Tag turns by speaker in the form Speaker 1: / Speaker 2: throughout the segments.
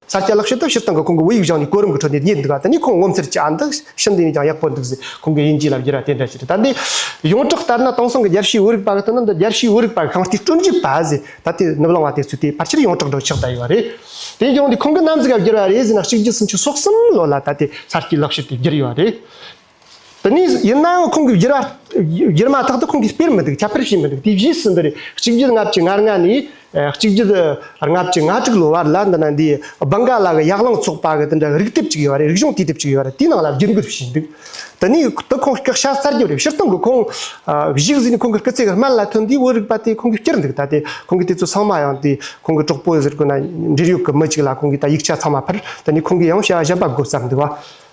Speaker 1: ས་སྐྱ་ལག་ཤེས་དང་ཕྱིར་བཏང་གི་ཁོང་གི་བུ་ཡིག་བཞག་ནས་གོ་རིམ་གྱི་ཁྲོད་ནས་རྙེད་འདུག་ད་ནི་ཁོང་ངོ་མཚར་གྱི་ཨ་འདི་ཕྱི་འདི་ནས་ཀྱང་ཡག་པོ་འདུག་ཟེར་ཁོང་གི་དབྱིན་ཇིའི་ལབ་རྒྱུ་ར་དེ་འདྲ་ཞིག་རེད་ད་འདི་ཡོངས་གྲགས་ལྟར་ན་དེང་སང་གི་རྒྱལ་ཕྱིའི་བོད་རིག་པ་ག་དུས་ན་འདི་རྒྱལ་ཕྱིའི་བོད་རིག་པ་གི་ཁང་བརྟེན་སྐྲུན་རྒྱུ་པ་ཟེར་ད་དེ་ནུབ་ལང་བ་དེ་ཚོས་དེ་ཕར་ཆེར་ཡོངས་གྲགས་འགྲོ་ཆགས་བསྡད་ཡོད་པ་རེད་དེ་ཡང་འདི་ཁོང་གི་རྣམ་གཟིགས་ལབ་རྒྱུ་ར་རེད་ཟེར་ན་གཅིག་རྗེས་གསུམ་ཆུ་སོགས་གསུམ་ལོ་ལ་ད་དེ་ས་སྐྱའི་ལག་ཤེས་དེ་བསྒྱུར་ཡོད་རེད། དེ་ནས་ཡིན་ནའང་ཁོང་གིས་བསྒྱུར་མ་ཐག་ཏུ་ཁོང་གིས་སྤེལ་མི་འདུག་ཁྱབ་སྤེལ་བྱས་མི་འདུག་དུས་བཞིས་སུ་འདི་རེད་གཅིག་བརྒྱུད་ལྔ་བཅུ་ང་ལྔ་ནས་གཅིག་བརྒྱུད་ལྔ་བཅུ་ང་དྲུག་ལོའི་བར་ལ་འདི་ན་འདི་སྦང་ག་ལ་གི་ཡག་ལང་ཚོགས་པ་གི་འདི་འདྲ་རིག་དེབ་ཅིག་ཡོད་རེད་རིག་གཞུང་དུས་དེབ་ཅིག་ཡོད་རེད་དེའི་ནང་ལ་བསྒྱུར་འགོད་བྱས་འདུག་དེ་ནས་དེ་ཁོང་སྐད་ཤ་སྟག་བརྒྱབ་རེད་ཕྱིར་བཏང་གི་ཁོང་གཞིས་བཟི་ནས་ཁོང་གི་སྐུ་ཚེ་གི་སྨད་ལ་ཐོན་དུས་བོད་རིག་པ་དེ་ཁོང་གིས་བསྐྱུར་འདུག་ད་དེ་ཁོང་གིས་དེ་ཚོ་ཚང་མ་ཡང་དེ་ཁོང་གི་གྲོགས་པོ་ཟེར་དགོས་ན་འབྲེལ་ཡོད་གི་མི་ཅིག་ལ་ཁོང་གིས་ད་ཡིག་ཆ་ཚང་མ་ཕུལ་དེ་ནས་ཁོང་གིས་ཡང་བྱ་བ་བཞག་པ་དགོས་བསམ་འདུག་བ།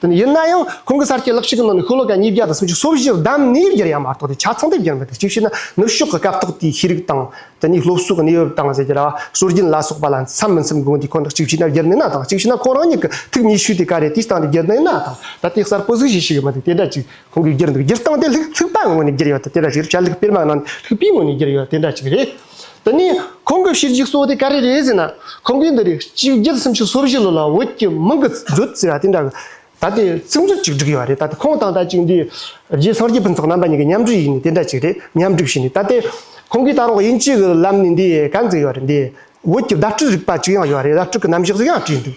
Speaker 1: དེ་ནི་ཡིན་ན་ཡང་ཁོང་གི་གསར་སྐྱེས་ལག་ཤེས་ཀྱི་ནང་ནས་ཤོ་ལོ་ཀ་ཉིས་བརྒྱ་དང་སུམ་ཅུ་སོ་བཞིར་བདམས་ནས་བསྒྱུར་ཡ་མ་གཏོགས་དེ་ཆ་ཚང་དུ་བསྒྱུར་མི་འདུག་གཅིག་བྱས་ན་ནུབ་ཕྱོགས་ཀྱི་སྐབས་ཐོག་དེའི་ཤེས་རིག་དང། དེ་ནས་སློབ་གསོ་གི་གནས་བབ་དང་ཟེར་གྱི་ལ་སྲོལ་རྒྱུན་ལ་སོགས་པ་ལ་འཚམ་མི་འཚམ་དགོངས་དེ་ཁོ་ནར་གཅིག་བྱས་ན་བསྒྱུར་ནུས་ན་དང་གཅིག་བྱས་ན་ཁོང་རང་ཉིད་ཀྱི་ཐུགས་ཉིད་ཞུས་ཏེ་ག་རེ་དེ་སྟེང་ནས་བསྒྱུར་ནུས་ན་དང་ད་ལྟའི་གསར་པོ་གཟིགས་གཞི་ཞིག་མི་འདུག་དེ་འདྲ་ཅིག་ཁོང་གིས་བསྒྱུར་འདུག་སྒྱུར་སྟངས་དེ་ལྷུག་པའི་ངོས་ནས་བསྒྱུར་ཡོད་དེ་འདྲ་ཞིག་རེད་བྱ་ལྷུག་སྤེལ་མ་ནང་ནས་ལྷུག་པའི་ངོས་ནས་བསྒྱུར་ཡོད་དེ་འདྲ་ཅིག་རེད། འདི་ནས་ཁོང་གི་ཕྱིར་འཇིགས་སོགས་དེ་ཀ་རེ་རེ་ཟེར་ན་ཁོང་གིས་འདི་རེ་གཅིག་བརྒྱད་སུམ་ཅུ་སོ་བཞི་ལོ་ལ་འོད་ཀྱི་མིང་གི་མཛོད་ཟེར་བ་དེ་འདྲ་གི་ད་ལྟའི་ཚིག་མཛོད་ཅིག་བསྒྲིགས་ཡོད་པ་རེད་ད་ལྟ་ཁོང་དང་ད་ཅིག་འདི་རྗེ་སངས་རྒྱས་ཕུན་ཚོགས་རྣམ་པ་གཉིས་ཀྱི་མཉམ་འབྲེལ་ཡིག་ནི་དེ་འདྲ་ཅིག་རེད་མཉམ་བསྒྲིགས་བྱས་ནས་ད་ལྟའི་ཁོང་གིས་ད་རུང་དབྱིན་ཇི་གི་ལམ་ནས་འདི་ག་འཛིན་ཡོད་རེད་འདིའི་འོད་ཀྱི་བརྡ་སྤྲོད་རིག་པ་ཅིག་ཡང་ཡོད་རེད་བརྡ་སྤྲོད་ཀྱི་རྣམ་གཞག་ཅིག་ཡང་བྲིས་འདུག།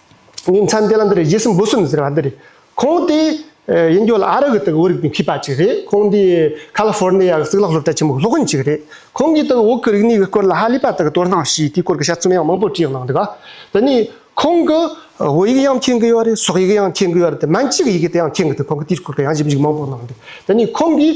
Speaker 1: ཉིན་མཚན་དེ་ལ་འདི་རེད་རྗེས་སུ་འབུ་སྲིན་ཟེར་བ་འདི་རེད། ཁོང་དེ་ཡིན་རྒྱུ་ལ་ཨ་རི་གི་དེ་གི་བོད་རིགས་པའི་མཁས་པ་ཅིག་རེད། ཁོང་འདི་ཁ་ལི་ཧྥོར་ནེ་ཡ་གི་གཙུག་ལག་སློབ་གྲྭ་ཆེན་མོ་གི་སློབ་དཔོན་ཅིག་རེད། ཁོང་གིས་དེ་གི་འོག་གི་རིག་གནས་ཀྱི་སྐོར་ལ་ཧ་ལི་པ་དག་གི་དོ་སྣང་ཞེས་དེའི་སྐོར་གྱི་དཔྱད་རྩོམ་ཡང་མང་པོ་བྲིས་གནང་འདུག་དེ་ནས་ཁོང་གིས་བོད་ཡིག་ཡང་མཁྱེན་གི་ཡོད་རེད་སོག་ཡིག་ཡང་མཁྱེན་གི་ཡོད་རེད་དེ་མན་ཅི་གི་ཡི་གེ་དེ་ཡང་མཁྱེན་གི་འདུག་ཁོང་གིས་དེའི་སྐོར་གྱི་ཡང་ཞིབ་འཇུག་མང་པོ་གནང་འདུག་དེ་ནས་ཁོང་གིས་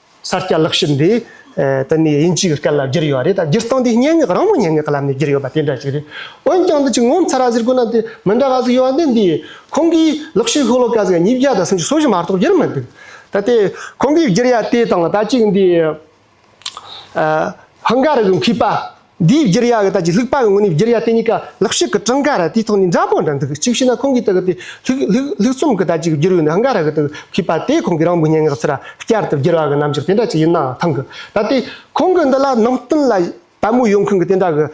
Speaker 1: ས་སྐྱ་ལག་ཤེར་འདི་ད་ནི་དབྱིན་ཇིའི་སྐད་ལ་བསྒྱུར་ཡོད་པ་རེད་དང་སྒྱུར་སྟངས་འདི་སྙན་ངག་རང་མོས་སྙན་ངག་ལམ་ནས་བསྒྱུར་ཡོད་པ་དེ་འདྲ་ཞིག་རེད། འོན་ཀྱང་འདི་ཅིག་ངོ་མཚར་ར་ཟེར་དགོས་ན་དེ་མི་འདྲ་ག་ཟིག་ཡོད་པ་འདི་འདི་ཡིན། ཁོང་གིས་ལག་ཤེར་ཤོག་ལོ་ཀ་ཟིག་ཉིས་བརྒྱ་དང་སུམ་ཅུ་སོ་བཞི་མ་གཏོགས་བསྒྱུར་མི་འདུག་ད་ལྟའི་ཁོང་གིས་བསྒྱུར་ཡ་དེ་དང་ད་ཅིག་འདི་ཧིན་སྒར་གྱི་མཁས་པ་འདིའི་བསྒྱུར་ཡ་གི་ད་ཀྱི་ལྷུག་པ་གི་ངོས་ནས་བསྒྱུར་ཡ་དེ་གཉིས་ཀ་ལག་ཤུབ་ཀྱི་གྲངས་ཀ་ར་དེའི་ཐོག་ནས་འདྲ་པོ་འདྲ་འདུག་གཅིག་བྱས་ན་ཁོང་གིས་ད་གི་དེ་ལྷུག་རྩོམ་གྱི་ད་ཀྱི་བསྒྱུར་ཡུལ་ནི་ཧང་ག་ར་གི་དུ་ཁུད་པ་དེ་ཁོང་གིས་རང་འབུ་སྙན་ངག་ཚིག་ར་བསྐྱར་དུ་བསྒྱུར་བ་གི་རྣམ་འགྱུར་དེ་འདྲ་ཅིག་ཡིན་ནའང་ཐང་གི་ད་ལྟའི་ཁོང་གི་འདི་ལ་ནང་བསྟན་ལ་དད་མོས་ཡོང་མཁན་གྱི་དེ་འདྲ་གི་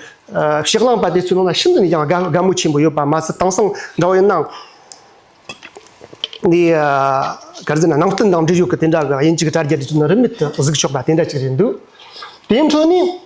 Speaker 1: ཞེ་བླངས་པ་དེ་ཚོའི་ནང་ན་ཤིན་ཏུ་ནས་ཀྱང་དགའ་མོས་ཆེན་པོ་ཡོད་པ་མ་ཟད་དེང་སང་འདྲ་བོ་ཡིན་ནའང་འདི་གར་འཛིན་ན་ནང་བསྟན་དང་འབྲེལ་ཡོད་གི་དེ་འདྲ་གི་དབྱིན་ཇི་གི་དྲ་རྒྱ་དེ་ཚོའི་ནང་རིན་མེད་དུ་གཟིགས་ཆོག་པ་དེ་འདྲ་ཅིག་རེད་འདུག་དེའི་འཕྲོས་ནས་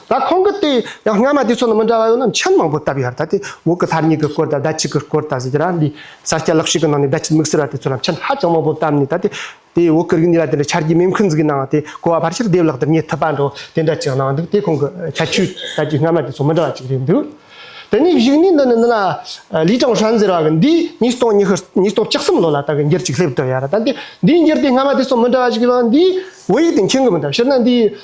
Speaker 1: ད་ཁོང་གི་དེ་ཡང་སྔ་མ་དེ་ཚོ་ནི་མི་འདྲ་བ་ཡོད་ན་མཆན་མང་པོ་བཏབ་ཡོད་ད་དེ་འོག་གི་ལྷ་གཉིས་ཀྱི་སྐོར་དང་ཟླ་གཅིག་གི་སྐོར་དང་ཟེར་རྒྱུ་རང་འདི་ས་སྐྱ་ལག་ཤེས་ཀྱི་ནང་ནས་ཟླ་གཅིག་དམིགས་བསལ་བ་དེ་ཚོ་ལ་མཆན་ཧ་ཅང་མང་པོ་བཏབ་ནས་ད་དེ་དེའི་འོག་གི་རིག་གནས་ལ་དེ་འདྲ་འཆར་གྱི་མེད་མཁན་ཟིག་གནང་བ་དེ་གོ་བ་ཕར་ཕྱིར་བསྡེབས་ལག་བསྡེབས་ཉེས་ཐུབ་པ་འདྲ་བོ་དེ་འདྲ་ཅིག་གནང་འདུག་དེ་ཁོང་གི་ཁྱད་ཆོས་ད་ཀྱི་སྔ་མ་དེ་ཚོ་མི་འདྲ་བ་ཅིག་རེད་འདུག་དེ་ནས་བཞུགས་གནས་འདི་ནི་འདི་ན་ལི་ཀྲང་ཧྲན་ཟེར་བ་གི་འདི་ཉིས་སྟོང་ཉི་ཤུ་ཉིས་སྟོང་གཅིག་གསུམ་ལོ་ལ་ད་གི་འགྱུར་ཅིག་སླེབས་འདུག་ཡ་རབས་ད་དེ་འདིའི་འགྱུར་དེ་སྔ་མ་དེ་ཚོ་མི་འདྲ་བ་ཅིག་ཡོད་ན་འདིའི་བོད་ཡིག་དེ་མཁྱེན་གི་མི་འདུག་ཕྱིར་ན་འདིའི་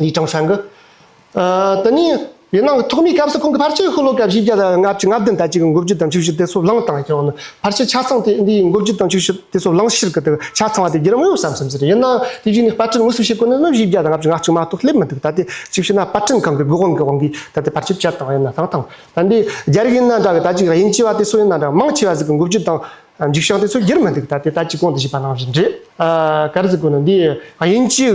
Speaker 1: ལི་ཀྲང་ཧྲན་གྱིས། དེ་ནི་ཡུན་ནང་གི་ཐོག་མའི་སྐབས་སུ་ཁོང་གི་ཕར་ཆེར་ཤོ་ལོ་ཀ་བཞི་བརྒྱ་དང་ལྔ་བཅུ་ང་བདུན་ཟླ་གཅིག་གི་འགོ་བརྒྱུད་དང་ཆིག་བཞི་སྟེ་སོ་གླང་བཏང་ཡང་ནི་ཕར་ཆེར་ཆ་ཚང་དེ་འདིའི་འགོ་བརྒྱུད་དང་ཆིག་བཞི་སྟེ་སོ་གླང་ཕྱིར་གི་དེ་ཆ་ཚང་བ་དེ་བརྒྱུད་རང་ཡོད་བསམ་བསམ་ཟེར་ཡིན་ནའང་དེ་བཞིན་ནི་དཔར་སྐྲུན་དངོས་སུ་བྱེད་དགོས་ན་ནི་བཞི་བརྒྱ་དང་ལྔ་བཅུ་ང་གཅིག་མ་གཏོགས་སླེབས་མི་འདུག་ད་ལྟའི་ཅིག་ཤོས་ན་དཔར་སྐྲུན་ཁང་གི་དགོས་དབང་གི་དབང་གིས་ད་ལྟའི་ཕར་ཆེར་བསྐྱར་བཏང་བ་ཡིན་ན་དང་ཐང་ད་འདི་རྒྱ་རིགས་ཡིན་ན་འདྲ་གི་ད་ཅིག་དབྱིན་ཇི་བ་དེ་སོ་ཡིན་ན་འདྲ་མང་ཆེ་བ་ཟིག་གི་འགོ་བརྒྱུད་དང་འཇིག་བྱང་དེ་ཚོ་བརྒྱུད་མི་འདུག་ད་ལྟའི་ད་ཅིག་གོང་དུ་བཞུགས་པ་ནང་བཞིན་རེད། ག་རེ་ཟིག་དགོས་ན་འདིའི་དབྱིན་ཇིའི།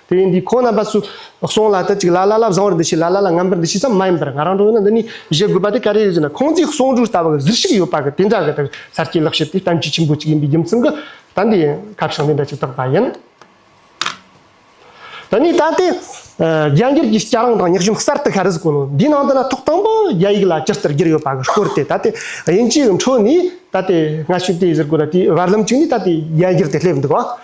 Speaker 1: དེ་བས་འདི་ཁོ་རྣམ་པ་སུ་སོང་ལ་དེ་གཅིག་ལ་ལ་ལ་བཟང་བར་འདི་བྱས་ལ་ལ་ལ་ངན་པར་འདི་བྱས་ཙམ་མ་ཡིན་པར་ང་རང་འགྲོ་ཡོང་ན་འདི་ནི་བཞེས་དགོས་པ་དེ་ག་རེ་ཡོད་ཟེར་ན་ཁོང་ཚོའི་གསོག་འཇོག་ལྟ་བ་གི་གཟིར་ཞིག་ཡོད་པ་གི་དེ་འདྲ་གི་དེར་གསར་སྐྱེས་ལག་ཤེས་དེ་གཏམ་རྒྱུད་ཆེན་པོ་གཅིག་ཡིན་པའི་རྒྱུ་མཚན་གི་ད་འདི་སྐབས་ཤིག་འདི་འདྲ་ཅིག་གཏོགས་པ་ཡིན། ད་ནི་ད་ལྟའི་རྒྱ་འགྱུར་གྱི་སྐྱ་རེངས་དང་སྙག་གཞུང་གསར་དུ་ཤར་གཟིགས་གོ་ནོར་འདིའི་ནང་དུ་ན་ཐོག་དང་པོ་རྒྱ་ཡིག་ལ་སྤྱིར་ལྟར་བསྒྱུར་ཡོད་པ་གི་སྐོར་དེ་ད་ལྟའི་དབྱིན་ཇིའི་འཕྲོ་ནི་ད་ལྟའི་སྔ་ཤོས་དེ་ཟེར་དགོས་ལ་དེའི་བར་ལམ་གཅིག་ནི་ད་ལྟའི་རྒྱ་འགྱུར་དེ་སླེབས་འདུག་ཨང།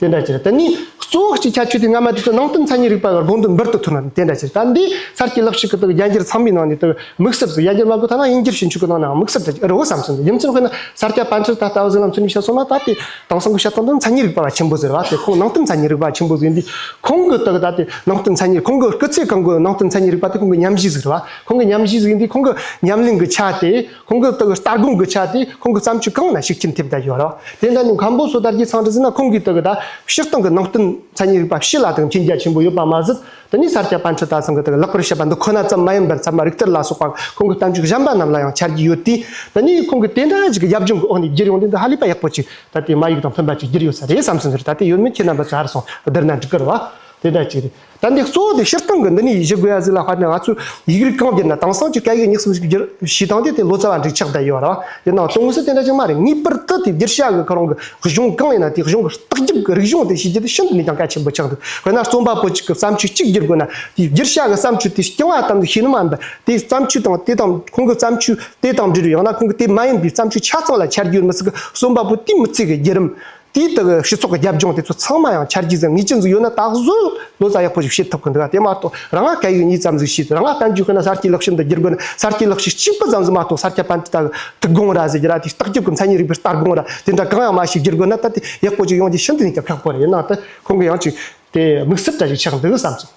Speaker 1: དེ་འདྲ་ཅིར་ད་ནི་གཙོ་བོ་གཅིག་ཁྱད་ཆོས་དེ་སྔ་མ་དེ་ཚོ་ནང་བསྟན་མཚན་ཉིད་རིག་པ་གར་དགོངས་དོན་འབུར་དུ་ཐོན་ནའང་དེ་འདྲ་ཅིར་ད་འདི་གསར་གྱི་ལབ་ཞིག་གི་སྟེང་རྒྱ་འགྱུར་ཚང་མའི་ནང་ནས་དམིགས་བསལ་དུ་ཡ་གྱལ་མ་གོ་ཐ་ན་དབྱིན་འགྱུར་ཞིབ་འཇུག་གི་ནང་ནའང་དམིགས་བསལ་དུ་རི་བོ་བསམ་ཚུལ་འདི་ཡུམ་ཆེན་ཁོ་ན་སར་སྐྱ་པཎ་ཆེན་ད་ལྟ་བ་ཟི་ལམ་ཚུལ་མིང་ཞལ་གསུང་མ་ད་དེ་དང་སང་གི་ཞལ་ཐང་དུ་མཚན་ཉིད་རིག་པ་བ་ཆེན་པོ་ཟེར་བ་དེ་ཁོང་ནང་བསྟན་མཚན་ཉིད་རིག་པ་ཆེན་པོ་ཟེར་འདི་ཁོང་གི་ད་ལྟ་དེ་ནང་བསྟན་མཚན་ཉིད་ཁོང་གི་སྐུ་ཚེ་གང་གི་ནང་བསྟན་མཚན་ཉིད་རིག་པ་དེ་ཁོང་གི་ཉམས་བཞེས་ཟེར་བ་ཁོང་གི་ཉམས་བཞེས་ཟེར་འདི་ཁོང་གི་ཉམས་གླིང་གི་ཆ་དེ། ཁོང་གི་སྟག་སྟག་དགུང་གི་ཆ་དེ་ཁོང་གི་བརྩམས་ཆོས་གང་ལ་ཞིག་ཁྱིམ་ཐེབས་དག་ཡོད་རེད། དེ་འདྲ་ནི་མཁན་པོ་སོ་དར་གྱིས་ཚང་གྲུ་ཟིན་ན་ཁོང་གིས་སྟག་དག་ཕྱིར་བཏང་གི་ནང་བསྟན་མཚན་ཉིད་རིག་པ་ཕྱི་ལ་དང་མཁྱེན་རྒྱ་ཆེན་པོ་ཡོད་པ་མ་ཟད་དེ་ནི་ས་སྐྱ་པཎ་ཆེན་སྟག་ཚང་གིས་དག་ལེགས་པར་བཤད་པ་འདི་ཁོ་ན་ཙམ་མ་ཡིན་པར་ཚད་མ་རིག་གཏེར་ལ་སོགས་པ་ཁོང་གི་གཏམ་རྒྱུད་གཞན་པ་རྣམས་ལ་ཡང་འཆར་གྱི་ཡོད་དུས་དེ་ནི་ཁོང་གིས་དེ་འདྲ་ཞིག་གི་ཡབ་ལྗོངས་ཀྱི་འོག་ནས་བསྒྱུར་ཡོང་དུས་འདི་ཧ་ལས་པ་ཡག་པོ་ཅིག་ད་ལྟའི་མ་ཡིག་དང་མཐུན་པ་ཅིག་བསྒྱུར་ཡོད་ས་རེད་བསམ་སོང་ཟེར་ད་ལྟའི་ཡོད་མེད་ཁྱེད་རྣམ་པ་ཚོས་ཧར་སོང་བསྡུར་ན་འགྲིག་གི་རེད་བ། དེ་འདྲ་ཅིག་རེད། དེ་འདི་གཙོ་བོ་དེ་ཕྱིར་བཏང་གི་འདི་ནི་ཡིད་བཞིན་དགོས་ཡ་གཟིགས་ལ་ཧད་ནས་ང་ཚོས་ཡིག་རིགས་གང་བསྒྱུར་ན་དེང་སང་གི་སྐད་ཡིག་སྙིགས་གསུམ་གྱི་བྱེད་སྟངས་དེ་དེ་ལོ་ཙཱ་བ་འགྲིག་ཆགས་བསྡད་ཡོད་ར་བ་དེ་ནང་དོན་དངོས་སུ་དེ་འདྲ་ཞིག་མ་རེད་ངེས་པར་དུ་དེ་བསྒྱུར་བྱ་དགོས་ཁོ་རང་གི་གཞུང་གང་ཡིན་ན་དེའི་གཞུང་གི་ལྟག་རྒྱབ་ཀྱི་རིག་གཞུང་དེ་ཤེས་རྒྱུ་དེ་ཤིན་ཏུ་ནས་ཀྱང་གལ་ཆེན་པོ་ཆགས་འདུག་དཔེར་ན་རྩོམ་པ་པོ་གཅིག་གི་བརྩམས་ཆོས་གཅིག་བསྒྱུར་དགོས་ན་དེའི་བསྒྱུར་བྱ་གི་བརྩམས་ཆོས་དེ་རྐྱང་བ་ཙམ་ལས་ཤེས་ནི་མ་འདུག་དེའི་བརྩམས་ཆོས་དང་དེ་དང་ཁོང་གི་བརྩམས་ཆོས་དེ་དང་འབྲེལ་བའི་ཡང་ན་ཁོང་གི་དེ་མ་ཡིན་པའི་བརྩམས་ཆོས་ཆ་ཚང་ལ་ཆ་རྒྱུས་མི་སྲིད་ཀི་རྩོམ་པ་པོ་དེའི་མི་ཚེ་གི་བརྒྱུད་རིམ་དེའི་སྟེང་གི་སྤྱི་ཚོགས་ཀྱི་རྒྱབ་ལྗོངས་དེ་ཚོ་ཚང་མ་ཡང་ཆར་གྱིས་བཟང་ངེས་ཅན་ཟིག་ཡོད་ན་ད་གཟོད་ལོ་ཙཱ་ཡག་པོ་ཞིག་བཤད་ཐུབ་གི་འདུག་ག་དེ་མ་གཏོགས་རང་ང་གད་ཡོད་གཉིས་ཙམ་ཟིག་བྱས་ཏེ་རང་ང་གཏན་རྒྱུད་ཤི་ན་གསར་སྐྱེས་ལག་ཤེས་འདི་བསྒྱུར་དགོས་ན་གསར་སྐྱེས་ལག་ཤེས་གཅིག་པུ་ཙམ་ཟིག་མ་གཏོགས་གསར་སྐྱེས་པན་ཏི་ལྟ་བུ་དུག་སྒང་ར་ཟེར་གྱི་ར་དེ་ལྟག་རྒྱུག་གི་མཚན་ཉིད་རིག་པའི་ལྟར་སྒང་ར་དེ་འདྲ་གང་ཡང་མ་ཞིག་བསྒྱུར་དགོས་ན་ད་ལྟའི་ཡག་པོ་ཅིག་ཡོང་རྒྱུ་ཤིན་ཏུ་ནས་ཀྱང་ཁག་པོ་རེད་ཡིན་ནའང་ད་ཁོང་གིས་ཡང་ཅིག་དེ་དམིགས་བསལ་གྲ་ཞིག་ཆགས་འདུག་བསམ་སོང།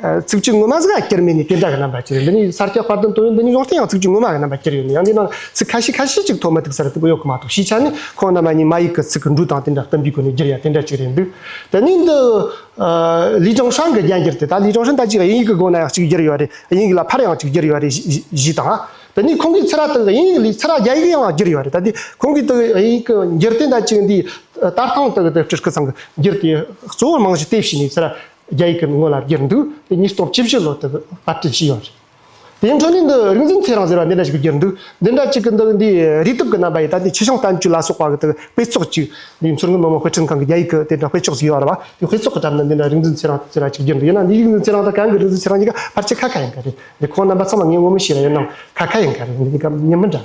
Speaker 1: ཚིག་བཅུ་ངོ་མ་ཟེར་ཡང་སྐྱེར་མེད་ནི་དེ་འདྲ་གི་རྣམ་པར་སྐྱེར་ཡོད་འདི་ནི་ས་སྐྱ་དཔར་ལྡན་དོན་ཡོད་འདི་ནི་ཡོངས་གཏན་ཡང་ཚིག་བཅུ་ངོ་མ་གི་རྣམ་པར་སྐྱེར་ཡོད་ནི་ཡང་འདི་ནང་ལ་ཚིག་ཁ་ཤས་ཁ་ཤས་གཅིག་ཐོག་མ་ཐིག་གསར་ལྟ་བུ་ཡོད་ཁོ་མ་གཏོགས་གཞིས་ཆགས་ནི་ཁོང་རྣམ་པ་གཉིས་མ་ཡིག་གི་ཚིག་གི་འབྲུ་དང་དེ་འདྲ་གཏམ་གྱི་སྒོ་ནས་བསྒྱུར་ཡང་དེ་འདྲ་གཅིག་རེད་འདུག་དེ་ནི་འདི་ལི་ཀྲང་ཧྲང་གི་རྒྱན་གྱི་རེད་ད་ལི་ཀྲང་ཧྲན་ད་ཅིག་དབྱིན་ཡིག་གི་སྒོ་ན་ཡང་གཅིག་བསྒྱུར་ཡོད་རེད་དབྱིན་ཡིག་ལ་ཕར་ཡང་གཅིག་བསྒྱུར་ཡོད་རེད་གཞིས་དང་དེ་ནི་ཁོང་གིས་ཚེ་ར་དག་དབྱིན་ཡིག་ལས་ཚེ་ར་རྒྱ་ཡིག་ཡང་བསྒྱུར་ཡོད་རེད་ད་དེ་ཁོང་གིས་དེ་དབྱིན་ཡིག་གི་འགྱུར་དེ་ད་ཅིག་འདིའི་ལྟར་ཐང་དག་དེ་སྤྲུལ་སྐུ་ཚང་གི་འགྱུར་དེ་གཙོ་བོར་རྨང་གཞི་གཏད་བྱས་ནས་ཚེ་ར་རྒྱ་ཡིག་གི་མིང་ངོ་ལ་བསྒྱུར་འདུག་དེ་ཉིད་སྟོང་བཅུ་བཞི་ལོ་དུ་དཔར་སྐྲུན་བྱས་ཡོད་རེད། དེའི་འཕྲོ་ནུས་འདི་རིག་འཛིན་ཚེ་རང་ཟེར་བ་འདི་འདྲ་ཞིག་གིས་བསྒྱུར་འདུག་འདི་འདྲ་གཅིག་གི་འདི་འདིའི་རིག་སྟོབས་ཀྱི་རྣམ་པ་ཡིས་ད་ལྟའི་ཆེ་ཆུང་བསྟན་བཅོས་ལ་སོགས་པ་དེ་དཔེ་ཚོགས་ཅིག་འདིའི་མཚུར་སྔོན་མི་དམངས་དཔེ་སྐྲུན་ཁང་གིས་རྒྱ་ཡིག་གི་དེ་འདྲ་དཔེ་ཚོགས་ཤིག་ཡོད་རེད་པ་དེའི་དཔེ་ཚོགས་ཀྱི་གྲབས་ནི་འདི་འདྲ་རིག་འཛིན་ཚེ་རང་ཟེར་བ་ཞིག་བསྒྱུར་འདུག་ཡིན་ནའང་འདིའི་རིག་འཛིན་ཚེ་རང་དང་གང་གི་རིག་འཛིན་ཚེ་རང་གཉིས་ཀ་ཕར་ཆེར་ཁ་ཁ་ཡིན་གྱི་རེད་འདི་ཁོང་རྣམ་པ་ཚང་མ་ངས་ངོ་མི་ཤེས་པ་ཡིན་ནའང་ཁ་ཁ་ཡིན་གྱི་རེད་འདི་གཉིས་ཀ་མཉམ་མི་འདྲ།